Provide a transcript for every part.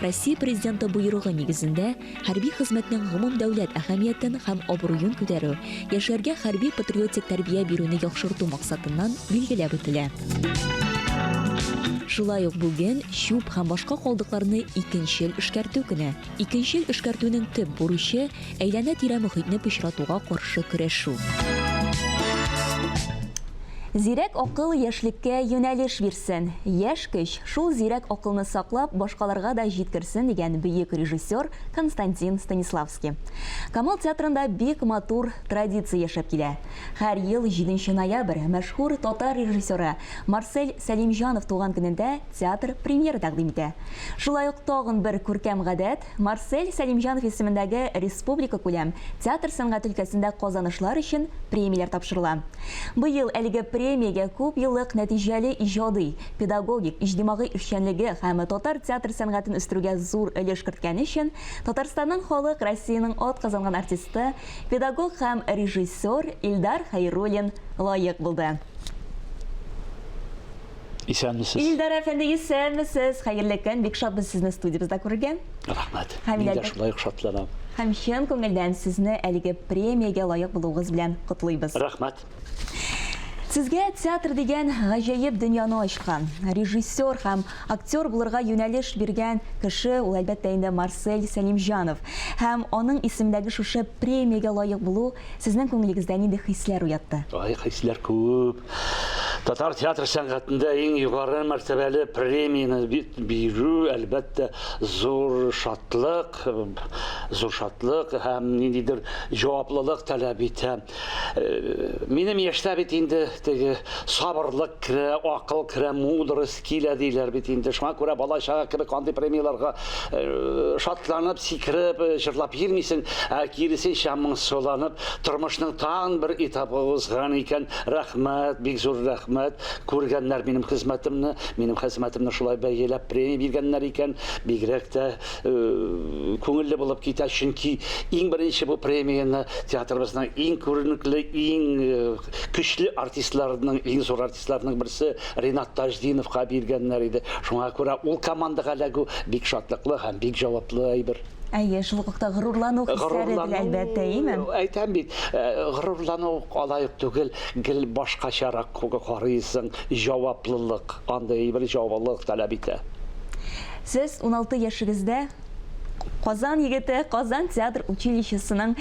Россия Президенты боерыгы нигезендә хәрби хезмәтнең гомумдәүләт әһәмиятен һәм абруен күтәрү, яшьләргә хәрби-патриотик тәрбия бирүне яхшырту максатыннан билгеләп үтелә. Шулай ук бүген чүп һәм башка калдыкларны икенчел эшкәртү көне. Икенчел эшкәртүнең төп бурычы, Әйләнә-тирә мохитне пычратуга каршы көрәшү. Зирәк акыл яшьлеккә юнәлеш бирсен. Яшь көч, шул зирәк акылны саклап, башкаларга да җиткерсен, дигән бөек режиссер Константин Станиславский. Камал театрында бик матур традиция яшәп килә. Һәр ел җиденче ноябрь мәшһүр татар режиссеры Марсель Сәлимҗанов туган көнендә театр премьера тәкъдим итә. Шулай ук тагын бер күркәм гадәт, Марсель Сәлимҗанов исемендәге республикакүләм театр сәнгать өлкәсендә казанышлар өчен премияләр тапшырыла. Быел әлеге премиягә күпьеллык нәтиҗәле иҗади, педагогик, иҗтимагый эшчәнлеге һәм татар театр сәнгатен үстерүгә зур өлеш керткәне өчен Татарстанның халык, Россиянең атказанган артисты, педагог һәм режиссер Илдар Хәйруллин лаек булды. Исәнмесез. Илдар әфәнде, исәнмесез. Хәерле көн. Бик шатбыз сезне студиябездә күрергә. Рәхмәт. Мин дә шулай ук шатланам. Һәм чын күңелдән сезне әлеге премиягә лаек булуыгыз белән котлыйбыз. Рәхмәт. Сезгә театр дигән гаҗәеп дөньяны ачкан, режиссер һәм актер булырга юнәлеш биргән кеше ул, әлбәттә инде, Марсель Сәлимҗанов. Һәм аның исемендәге шушы премиягә лаек булу сезнең күңелегездә нинди хисләр уятты? Ай, хисләр күп. Татар театр сәнгатендә иң югары мәртәбәле премияны бирү, әлбәттә, зур шатлык, зур шатлык һәм ниндидер җаваплылык таләп итә. Э, минем яшьтә бит инде теге сабырлык керә, акыл керә, мудрость Килә диләр бит инде, шуңа күрә бала-чага кебек андый премияләргә шатланып, сикереп, җырлап йөрмисең, ә киресенчә моңсуланып, тормышның тагын бер этабы узган икән, рәхмәт, бик зур рәхмәт, күргәннәр минем хезмәтемне, минем хәзмәтемне шулай бәяләп премия биргәннәр икән, бигрәк тә күңелле булып китә, чөнки иң беренче бу премияне театрыбызның иң күренекле, иң көчле артистларының, иң зур артистларының, Артистларның берсе Ринат Таҗдиновка биргәннәр иде. Шуңа күрә ул командага эләгү бик шатлыклы һәм бик җаваплы әйбер. Әйе, шул ук та горурлану хисләре дә, әлбәттә, име? Әйтәм бит, горурлану алай ук түгел, гел башкачарак карыйсың, җаваплылык, андый әйбер җаваплылык таләп итә. Сез уналты яшегездә Казан егете, Казан театр училищесының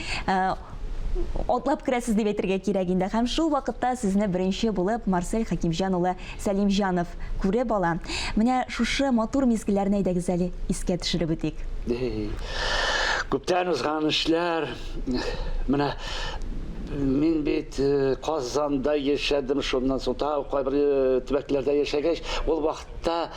Атлап керәсез дип әйтергә кирәк инде. Һәм шул вакытта сезне беренче булып Марсель Хәкимҗан улы Сәлимҗанов күреп ала. Менә шушы матур мизгелләрне әйдәгез әле искә төшереп үтик. Күптән узган эшләр. Менә мин бит Казанда яшәдем, шуннан соң тагы кайбер төбәкләрдә яшәгәч, ул вакыт Та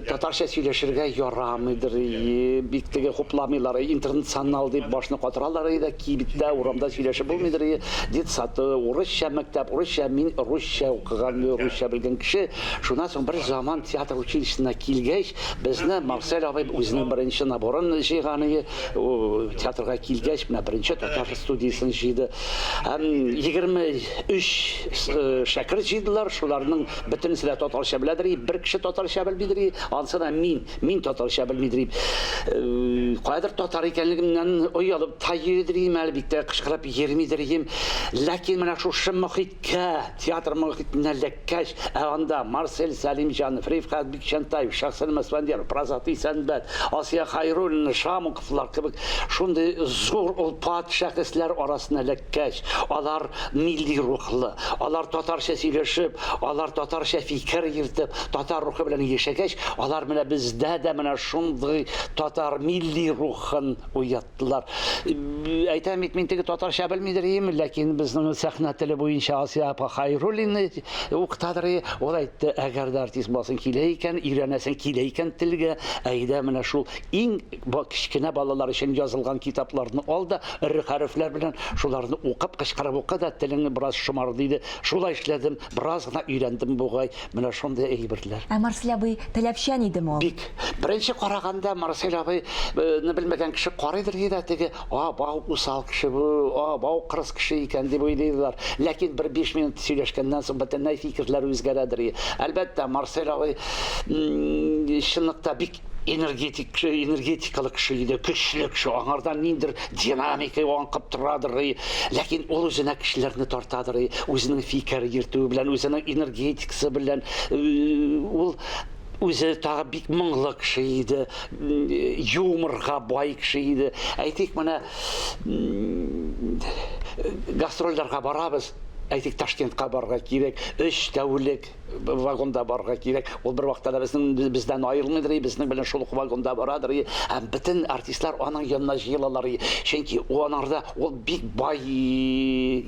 татарча сөйләшергә ярамыйдыр ии, бик теге хупламыйлар, интернационал дип башны катыралар ии дә, кибеттә, урамда сөйләшеп булмыйдыр ии, детсады, урысча мәктәп, урысча, мин русча укыган, русча белгән кеше, шуннан соң бер заман театр училищесына килгәч, безне Марсель абый үзенең беренче наборын җыйган ие, театрга килгәч, менә беренче татар студиясен җыйды, һәм егерме өч шәкерт җыйдылар, шуларның Бөтенесе дә татарча беләдер и, бер кеше татарча белмидер и, ансы да мин, мин татарча белмидер и. Каядыр татар икәнлегемнән оялып та йөридер им әле, бик тә кычкырып йөрмидер им. Ләкин менә шушы мохиткә, театр мохитенә эләккәч, ә анда Марсель Сәлимҗанов, Рифкать Бикчәнтаев, Шәхсән Мәсфәндияров, Прозатый Сәнбәт, Асия Хәйруллина, Шаму, Шулар кебек шундый зур олпат шәхесләр арасына эләккәч, алар милли рухлы, алар татарча сөйләшеп, алар татарча фикер йөртеп, татар рухы белән яшәгәч, алар менә бездә дә менә шундый татар милли рухын уяттылар. Әйтәм бит, мин теге татарча белмидер ием, ләкин безнең сәхнә теле буенча Асия апа Хайруллина уктадыр и, ул әйтте, әгәр дә артист буласың килә икән, өйрәнәсең килә икән телгә, әйдә менә шул Иң кечкенә балалар өчен язылган китапларны ал да, эре хәрефләр белән шуларны укып, кычкырып укы да, телең бераз шомар, диде. Шулай эшләдем, бераз гына өйрәндем бугай. Менә шундый әйберләр. Ә Марсель абый таләпчән идеме ул? Бик. Беренче караганда Марсель абыйны белмәгән кеше карыйдыр ди дә, теге, А, бау усал кеше бу, а, бау кырыс кеше икән, дип уйлыйдыр. Ләкин бер биш минут сөйләшкәннән соң бөтенләй фикерләре үзгәрәдер. Әлбәттә, Марсель абый чынлыкта бик. энергетик кеше, энергетикалы кеше иде, көчле кеше, аңардан ниндер динамика аңкып торадыр, ләкин ул үзенә кешеләрне тартадыр, үзенең фикер йөртүе белән, үзенең энергетикасы белән ул үзе тагы бик моңлы кеше иде, юморга бай кеше иде. Әйтик, менә гастрольләргә барабыз, әйтик, Ташкентка барырга кирәк, өч тәүлек вагонда барырга кирәк. Ул бер вакытта да безнең бездән аерылмыйдыр, и, безнең белән шул ук вагонда барадыр, и, һәм бөтен артистлар аның янына җыелалар, и, чөнки ул анарда ул бик бай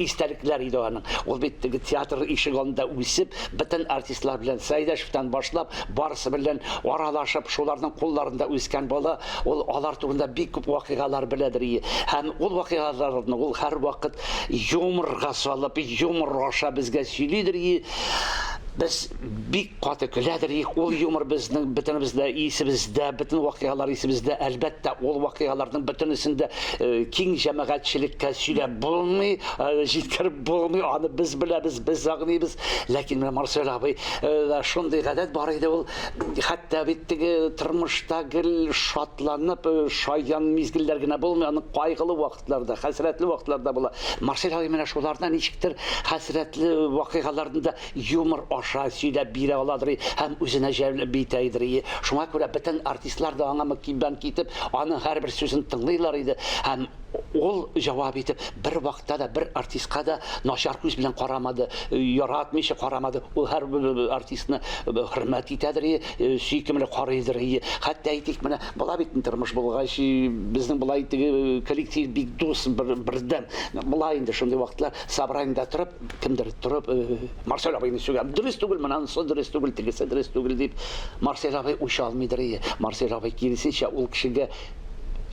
истәлекләр иде аның. Ул бит теге театр ишек алдында үсеп, бөтен артистлар белән Сәйдәшевтән башлап, барысы белән аралашып, шуларның кулларында үскән бала, ул алар турында бик күп вакыйгалар беләдер, и, һәм ул вакыйгаларны ул һәрвакыт юморга салып, юмор аша безгә сөйлидер, и, Без бик каты көләдер ик, ул юмор безнең бөтенебездә исебездә, бөтен вакыйгалар исебездә. Әлбәттә, ул вакыйгаларның бөтенесен дә э, киң җәмәгатьчелеккә сөйләп булмый, э, җиткереп булмый, аны без беләбез, без аңлыйбыз. Ләкин менә Марсель абый э, шундый гадәт бар иде ул, хәтта бит теге тормышта гел шатланып, э, шаян мизгелләр генә булмый, аның кайгылы вакыт вакытларда, хәсрәтле вакытлар да була. Марсель менә шуларны ничектер хәсрәтле вакыйгаларны да юмор аша сөйләп бирә аладыр һәм үзенә җәлеп итә идер. Шуңа күрә бөтен артистлар да аңа мөкиббән китеп, аның һәрбер сүзен тыңлыйлар иде һәм ул җавап итеп бер вакытта да бер артистка да начар күз белән карамады, яратмыйча карамады. Ул һәр артистны хөрмәт итәдер, сөйкемле карыйдыр. Хәтта әйтик, менә Бала бит инде тормыш булгач, безнең болай теге коллектив бик дус, бер, бердәм. Болай инде шундый вакытлар собраниедә торып, кемдер торып, э, Марсель абыйны сүгәм. Дөрес түгел, монысы дөрес түгел, тегесе дөрес түгел дип. Марсель абый үч алмыйдыр ие. Марсель абый киресенчә ул кешегә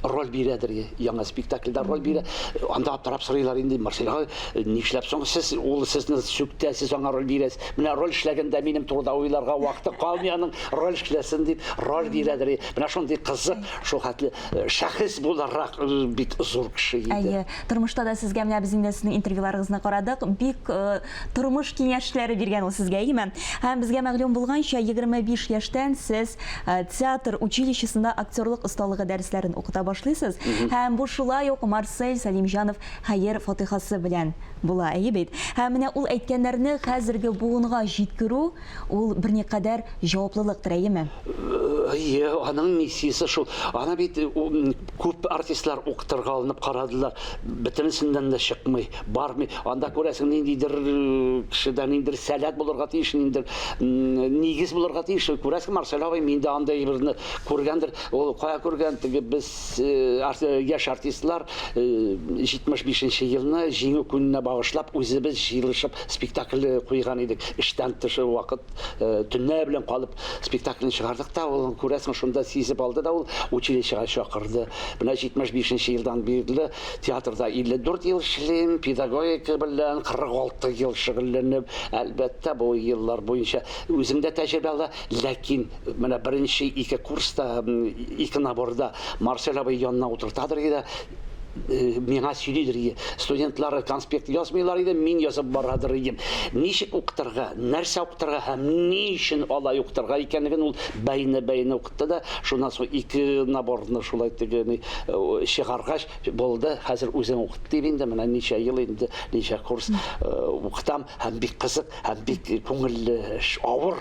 роль бирәдер ие. Яңа спектакльдә роль бирә. Анда аптырап сорыйлар инде, Марсель абый, э, нишләп соң сез, ул сезне сүктә, сез аңа роль бирәсез? Менә роль эшләгәндә минем турыда уйларга вакыты калмый аның. роль эшләсен дип роль бирәдер менә шундый кызык шул хәтле э, шәхес буларак э, бик зур кеше иде әйе тормышта да сезгә менә без инде сезнең интервьюларыгызны карадык бик э, тормыш киңәшләре биргән ул сезгә әйеме һәм безгә мәгълүм булганча 25 яшьтән сез театр училищесында актерлык осталыгы дәресләрен укыта башлыйсыз һәм бу шулай ук марсель сәлимҗанов хәер фатихасы белән була әйе бит һәм менә ул әйткәннәрне хәзерге буынга җиткерү Ул берникадәр җаваплылык терәеме? Әйе, аның миссиясе шул. Аны бит күп артистлар укытырга алынып карадылар. Бөтенесеннән дә чыкмый, бармый. Анда, күрәсең, ниндидер кешедә ниндидер сәләт булырга тиеш, ниндидер нигез булырга тиеш. Күрәсең, Марсель абый миндә андый берне күргәндер. Ул кая күргән, теге без яшь артистлар 75 нче елны Җиңү көненә багышлап үзебез җыелышып Спектакль куйган идек, эштән тыш вакыт, төнлә белән калып спектакльне чыгардык та, ул, күрәсең, шунда сизеп алды да ул, училищега чакырды. Менә 75 нче елдан бирле театрда 54 ел эшлим, педагогика белән 46 ел шөгыльләнеп, әлбәттә, бу еллар буенча үзем дә тәҗрибә ала, ләкин менә беренче ике курста, ике наборда Марсель абый янына утыртадыр иде, миңа сөйлидер иде. Студентлары конспект язмыйлар иде, мин язып барадыр идем. Ничек укытырга, нәрсә укытырга һәм ни өчен алай укытырга икәнлеген ул бәйне-бәйне укытты да, шуннан соң ике наборны шулай тегене э, чыгаргач булды. Хәзер үзем укыт дип инде менә ничә ел инде, ничә курс э, укытам һәм бик кызык һәм бик күңелле эш, авыр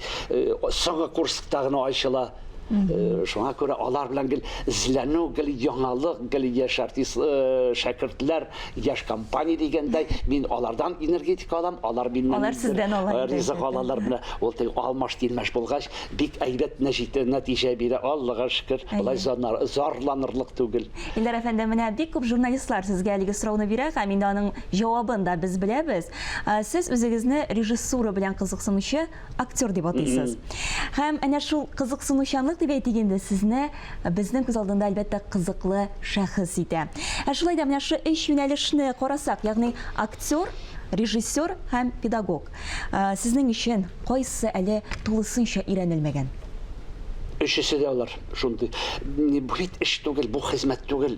Соңгы курскта гына ачыла. Шуңа күрә алар белән гел эзләнү, гел яңалык, гел яшь артист шәкертләр, яшь компания дигәндәй, мин алардан энергетика алам, алар миннән алар сездән ала ризык алалар. Менә ул тел алмаш тилмәш булгач, бик әйбәт нәтиҗә бирә, Аллага шөкер. Болай зарланырлык түгел. Илдар әфәнде, менә бик күп журналистлар сезгә әлеге сорауны бирә һәм инде аның Җавабын да без беләбез. Сез үзегезне режиссура белән кызыксынучы актер дип атыйсыз. Һәм әнә шул кызыксынучанлык дип әйтик инде, сезне безнең күз алдында, әлбәттә, кызыклы шәхес итә. Ә шулай да менә шушы өч юнәлешне карасак, ягъни актер, режиссер һәм педагог. Сезнең өчен кайсы әле тулысынча өйрәнелмәгән? Өчесе дә алар шундый. Бу бит эш түгел, бу хезмәт түгел.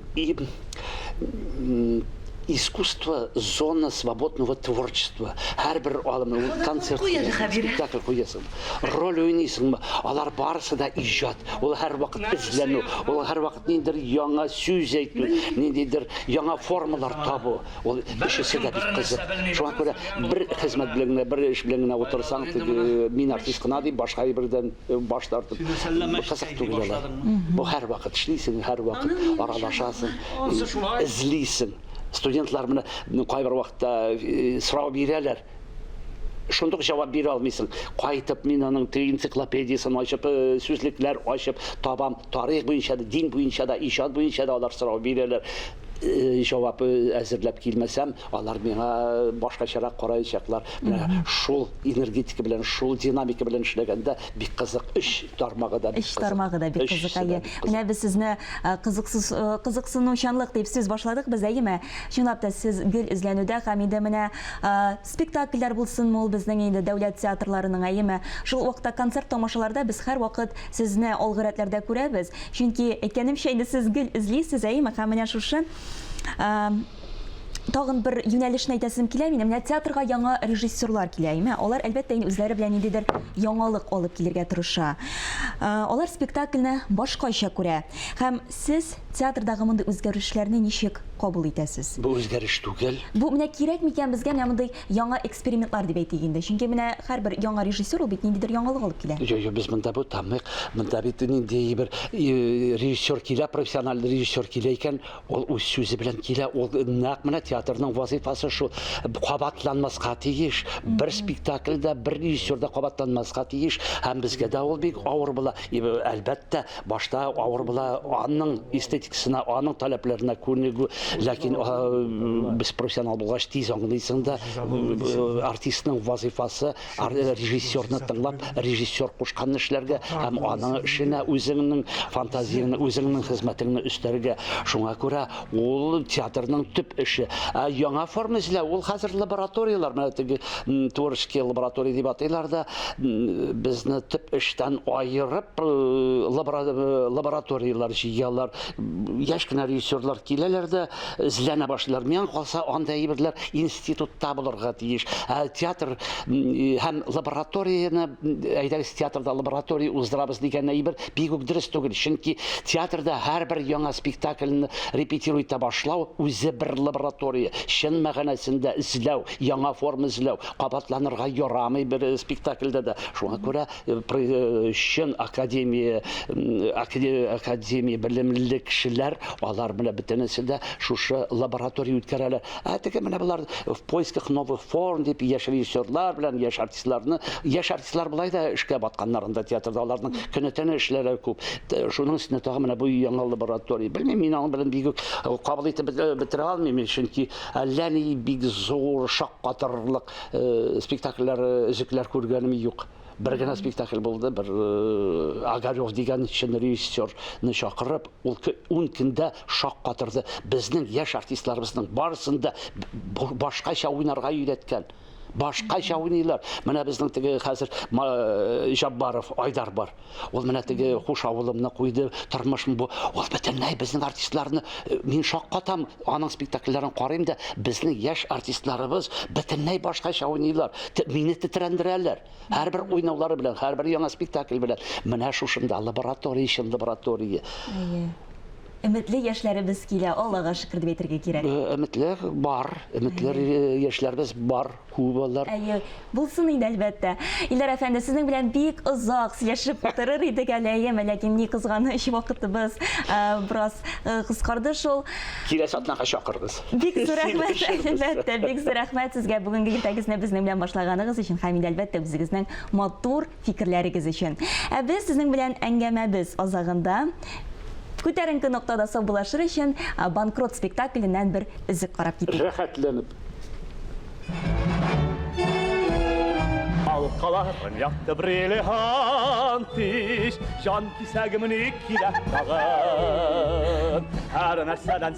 искусство зона свободного творчества һәрбер алымы концерт спектакль куясың роль уйныйсыңмы алар барысы да иҗат ул һәрвакыт эзләнү ул һәрвакыт ниндидер яңа сүз әйтү ниндидер яңа формалар табу Ул өчесе дә бик кызык. Шуңа күрә бер хезмәт белән генә, бер эш белән генә утырсаң, теге мин артист кына дип, башка әйбердән баш тартып, кызык түгел алар. Бу һәрвакыт эшлисең, һәрвакыт аралашасың, эзлисең. Студентлар менә кайбер вакытта сорау бирәләр. шундук җавап бирә алмыйсың. Кайтып мин аның теге энциклопедиясен ачып, э, сүзлекләр ачып табам. Тарих буенча да, дин буенча да, иҗат буенча да алар сорау бирәләр. Э, җавап э, әзерләп килмәсәм, алар миңа башкачарак караячаклар. Менә шул энергетика белән, шул динамика белән эшләгәндә бик кызык. Өч тармагы да бик кызык. Өч тармагы да бик кызык. Әйе. Менә без сезне кызыксыз кызыксынучанлык дип сүз башладык без, әйеме? Чынлап та сез гел эзләнүдә һәм инде менә Спектакльләр булсынмы ул безнең инде дәүләт театрларының, әйеме? Шул ук вакытта концерт-тамашаларда без һәрвакыт сезне алгы рәтләрдә күрәбез. Чөнки, әйткәнемчә, инде сез гел эзлисез, әйеме? Һәм менә шушы тагын бер юнәлешне әйтәсем килә минем. Менә театрга яңа режиссерлар килә, әйеме? Алар, әлбәттә, инде үзләре белән ниндидер яңалык алып килергә тырыша. Алар спектакльне башкача күрә. Һәм. Сез театрдагы мондый үзгәрешләрне ничек кабул итәсез? Бу үзгәреш түгел. Бу менә кирәк микән безгә менә мондый яңа экспериментлар дип әйтик инде. Чөнки менә һәрбер яңа режиссер ул бит ниндидер яңалык алып килә. Юк, юк, без монда бу тамыйк. Монда бит нинди бер режиссер килә, профессиональ режиссер килә икән, ул үз сүзе белән килә. Ул нәкъ менә театрның вазыйфасы шул. Кабатланмаска тиеш. Бер спектакль дә, бер режиссер да кабатланмаска тиеш. Һәм безгә дә ул бик авыр була. И, әлбәттә, башта авыр була, аның эстетикасына, аның таләпләренә күнегү, ләкин а, без профессионал булгач тиз аңлыйсың да, артистның вазыйфасы ар- режиссерны тыңлап, режиссер кушканны эшләргә һәм аның эшенә үзеңнең фантазияңне, үзеңнең хезмәтеңне өстәргә. Шуңа күрә Ул театрның төп эше. Ә яңа форма эзләү, ул хәзер лабораторияләр, менә теге творческий лаборатория дип атыйлар да, безне төп эштән аерып э, э, лабораторияләр җыялар. Яшь кенә режиссерлар киләләр дә, эзләнә башлыйлар. Миңа калса, анда әйберләр институтта булырга тиеш. Ә театр һәм лабораторияне әйдәгез театрда лаборатория уздырабыз дигән әйбер бик үк дөрес түгел. Чөнки театрда һәрбер яңа спектакльне репетирую итә башлау үзе бер лаборатория. Чын мәгънәсендә эзләү, яңа форма эзләү, кабатланырга ярамый бер спектакльдә дә. Шуңа күрә чын академия академия белемле кешеләр алар белән бөтенесе дә шушы лаборатория үткәрәләр ә теге менә болар в поисках новых форм дип яшь режиссерлар белән яшь артистларны яшь артистлар болай да эшкә батканнар анда театрда аларның көне төне эшләре күп шуның өстенә тагын менә бу яңа лаборатория белмим мин аның белән бик кабул итеп бетерә алмыйм чөнки әллә ни бик зур шаккатырлык э, спектакльләр э, өзекләр күргәнем юк бер генә спектакль булды бер э, огарев дигән чын режиссерны чакырып ул ун көндә шаккатырды безнең яшь артистларыбызның барысын да башкача уйнарга өйрәткән башкача уйныйлар менә безнең теге хәзер э, жаббаров айдар бар Ул менә теге хуш авылымны куйды, тормышым бу. Ул бөтенләй безнең артистларны э, мин шаккатам, аның спектакльләрен карыйм да, безнең яшь артистларыбыз бөтенләй башкача уйныйлар. Мине тетрәндерәләр. Һәрбер уйнаулары белән, һәрбер яңа спектакль белән. Менә шушында лаборатория, чын лаборатория. Әйе. Өметле яшьләребез килә, Аллага шөкер дип әйтергә кирәк. Өметле бар, өметле яшьләребез бар. Күп алар. Әйе, булсын инде, әлбәттә. Илдар әфәнде, сезнең белән бик озак сөйләшеп утырыр идек әле, әйеме, ләкин ни кызганыч, вакытыбыз бераз кыскарды шул. Киләсе атнага чакырыгыз. Бик зур рәхмәт, әлбәттә, бик зур рәхмәт сезгә бүгенге иртәгезне безнең белән башлаганыгыз өчен һәм инде, әлбәттә, үзегезнең матур фикерләрегез өчен. Ә без сезнең белән әңгәмәбез азагында күтәренке ноктада саубуллашыр өчен Банкрот спектакленнән бер өзек карап китик. Рәхәтләнеп. Ал каласын якты бриллиант ич, Җан кисәгемне кирәк тагын. Һәр нәрсәдән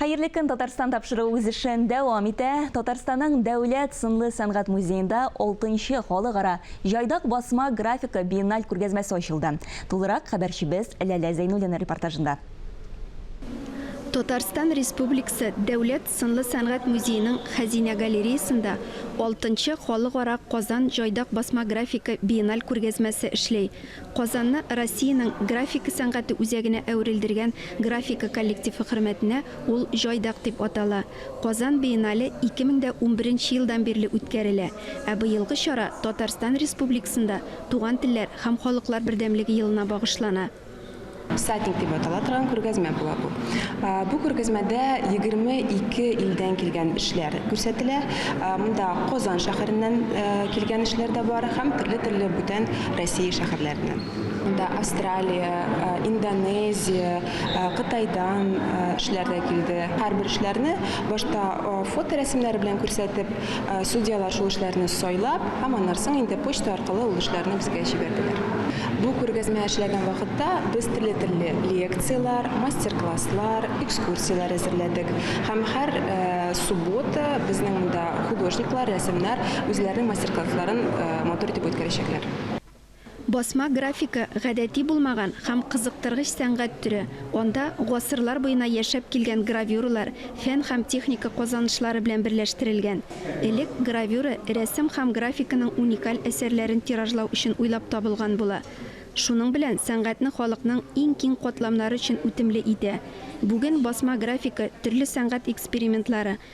Хәерле көн, Татарстан тапшыруы үз эшен дәвам итә. Татарстанның Дәүләт сынлы сәнгать музеенда 6нчы халыкара җайдак басма графика биенналь күргәзмәсе ачылды. Тулырак хәбәрчебез Ләлә Зәйнуллина репортажында. Татарстан Республикасы Дәүләт сынлы сәнгать музееның Хәзинә галереясында 6нчы халыкара Казан җайдак басма графика биенналь күргәзмәсе эшли. Казанны Россиянең графика сәнгате үзәгенә әверелдергән графика коллективы хөрмәтенә ул Җайдак дип атала. Казан биенале 2011 нче елдан бирле үткәрелә, ә быелгы чара Татарстан Республикасында Туган телләр һәм халыклар бердәмлеге елына багышлана. Всадник дип атала торган күргәзмә була бу. Бу күргәзмәдә 22 илдән килгән эшләр күрсәтелә. Монда Казан шәһәреннән килгән эшләр дә бар һәм төрле-төрле бүтән Россия шәһәрләреннән. Монда Австралия, Индонезия, Кытайдан эшләр дә килде. Һәрбер эшләрне башта фоторәсемнәре белән күрсәтеп, Судьялар шул эшләрне сайлап һәм аннары соң инде почта аркылы ул эшләрне безгә җибәрделәр. Бу күргәзмә эшләгән вакытта без телле-телле лекцияләр, мастер-класслар, экскурсияләр әзерләдек һәм һәр суббота безнең монда художниклар, рәссамнар үзләренең мастер-классларын матур итеп үткәрәчәкләр. Басма графика, гадәти булмаган һәм кызыктыргыч сәнгать төре, анда гасырлар буена яшәп килгән гравюралар фән һәм техника казанышлары белән берләштерелгән. Элек гравюра рәсем һәм графиканың уникаль әсәрләрен тиражлау өчен уйлап табылган була. Шуның белән сәнгатьне халыкның иң киң катламнары өчен үтемле итә. Бүген басма графика төрле сәнгать экспериментлары,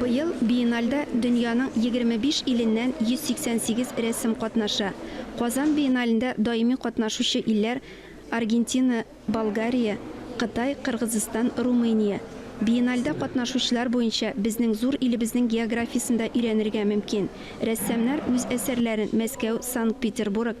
Быел биенальдә дөньяның егерме биш иленнән 188 рәссам катнаша. Казан биеналендә даими катнашучы илләр, Аргентина, Болгария, Кытай, Кыргызстан, Румыния. Биенальдә катнашучылар буенча безнең зур илебезнең географиясен дә өйрәнергә мөмкин. Рәссамнар үз әсәрләрен Мәскәү, Санкт-Петербург,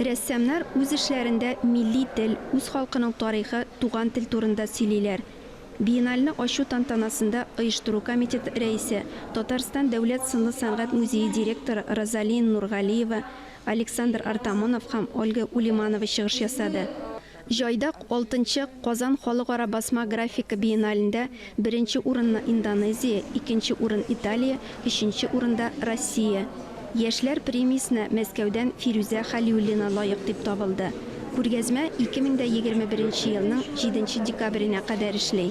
Рәссамнар үз эшләрендә милли тел, үз халкының тарихы, туган тел турында сөйлиләр. Биенальне ачу тантанасында оештыру комитеты рәисе, Татарстан Дәүләт сынлы сәнгать музее директоры Розалия Нургалиева, Александр Артамонов һәм Ольга Улиманова чыгыш ясады. Җайдак, алтынчы Казан халыкара басма графика биеналендә беренче урынны Индонезия, икенче урын Италия, өченче урында Россия. Яшьләр премиясенә Мәскәүдән Фирүзә Хәлиуллина лаек дип табылды. Күргәзмә 2021 елның 7 декабренә кадәр эшли.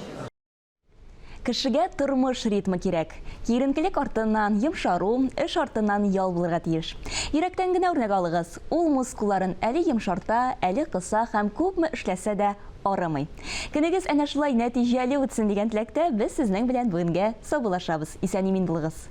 Кешегә тормыш ритмы кирәк. Киеренкелек артыннан йомшару, эш артыннан ял булырга тиеш. Йөрәктән генә үрнәк алыгыз. Ул мускулларын әле йомшарта, әле кыса һәм күпме эшләсә дә, арымый. Көнегез әнә шулай нәтиҗәле үтсен дигән теләктә без сезнең белән бүгенгә саубуллашабыз. Исән-имин булыгыз!